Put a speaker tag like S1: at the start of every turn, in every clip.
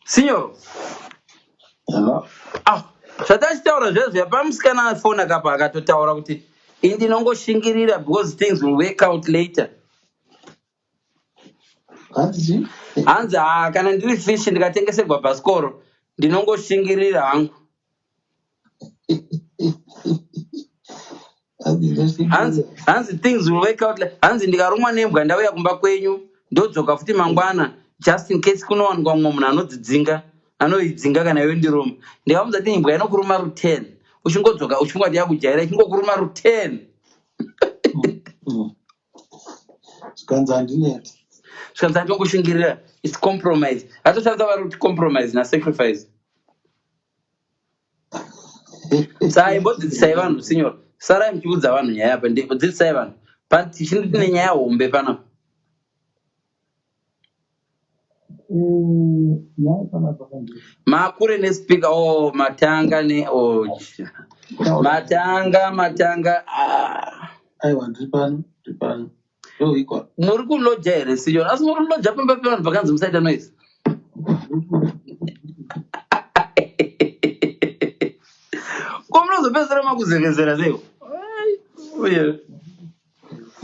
S1: Signor. Hello.
S2: Ah,
S1: zvatachitaura zvezvo pamusikana afona kapa akatotaura kuti indinongoshingirira because things will work out later. Hanzi? Hanzi ah kana ndiri fish ndikatengeserwa bhasikoro ndinongoshingirira hangu. hanzi things will work out hanzi ndikarumwa nembwa ndauya kumba kwenyu ndodzoka futi mangwana just in case kunowanikwa mumwe munhu anodzidzinga anoidzinga kana iwe ndiruma ndikamuza ti imbwa inokuruma ruten uchingodzoka uchingoti yakujaira ichingokuruma ruten zvikanzi handineti zvikanzi atongoshingirira its compromise atoshandisa vari kuti compromise nasacrifice sai imbodzidzisai vanhu sinyoro sarai muchiudza vanhu nyaya apa ndipo dzidzisai vanhu tichindi tine nyaya hombe panapa makure nespika o oh, matanga ne o oh, matanga matanga ah. aiwa ndiri
S2: pano ndiri pano
S1: muri kuloja here siyon asi muri kuloja pamba pevanhu pakanzi musaita noise ko munozopedzisira makuzevezera seo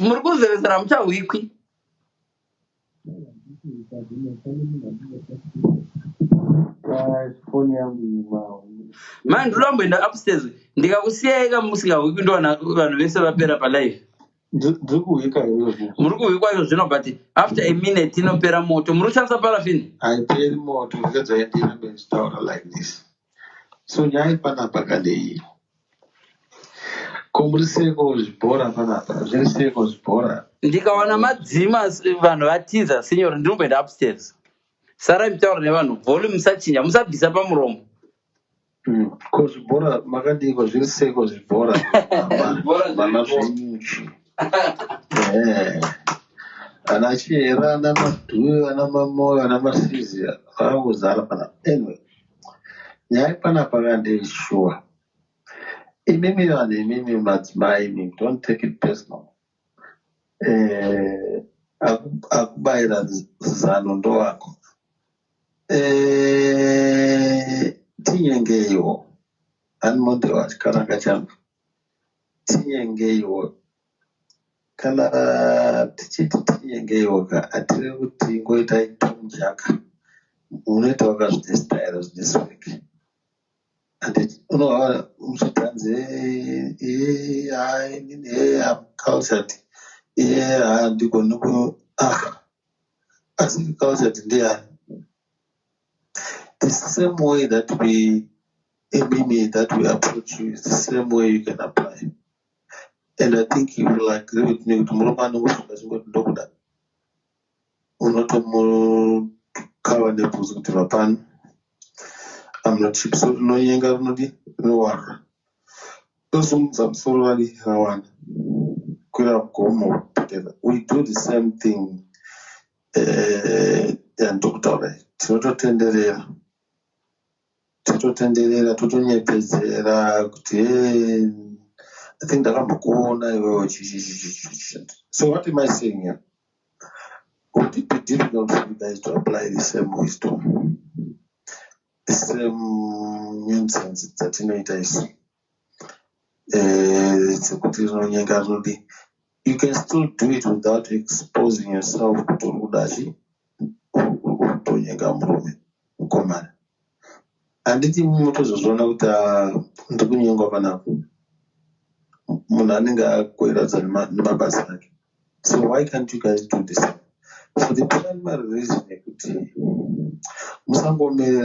S1: muri kuzevezera muchahwikwi Mai ndoda kumboenda upstairs ndikakusiyai ka musingahwikwi ndoona vanhu vese vapera palive ndiri kuhwika izvozvo muri kuhwikwa izvozvino but after a minute inopera moto muri kushandisa parafini haiperi moto
S2: ndikadzaendira benzitaura like this so nyaya yepanapa kandeyi ko muri seko zvibhora panapa zviri seko zvibhora ndikawana madzima
S1: vanhu vatiza sinyori ndinomboenda upstairs sarai mitaura nevanhu volume musachinja musabvisa pamuromo hmm,
S2: ko zvibhora makadiiko zviri seko zvibhora vana zvenyuchi eh, ana chihera ana madhuyo ana mamoyo ana masizi vakangozara panapa anyway nyaya panapa kandei shuwa imimi vanhu imimi madzimai imi don't take it personal eh, akubayira zano ndowako eh, tinyengeiwo animodewa chikaranga changu tinyengeiwo Kana tichiti tinyengeiwo ka hatirevi kuti ingoitai Tom Jaka unoitawo ka zvine style zvine swag and unohava muchiti hanzi ee haa inini ee am cultured ee haa handigoni ku ah asi cultured ndiyani the same way that we imimi that we approach you is the same way you can apply and i think you will agree with me kuti murume anongofunga chingoti ndokuda unotomukava nebvunzi kuti vapani amnochipso rinonyenga rinodi rinowarra tosimudza musoro vari rawana kwira gomo kupotera we do the same thing eh, yandokutaura tinototenderera tototenderera totonyepedzera kuti hey, i think ndakambokuona iwewe so what am i saying here would it be difficult for you guys to apply the same wisdom the same nonsense dzatinoita isu dzekuti rinonyenga rinodii you can still do it without exposing yourself kuti uri kuda chi uri kutonyenga murume mukomana handiti motozozviona kuti ah, ndiri kunyengwa panapo munhu anenge akoiradza nemabasa ake so why can't you guys do this so the primary reason yekuti musangomerera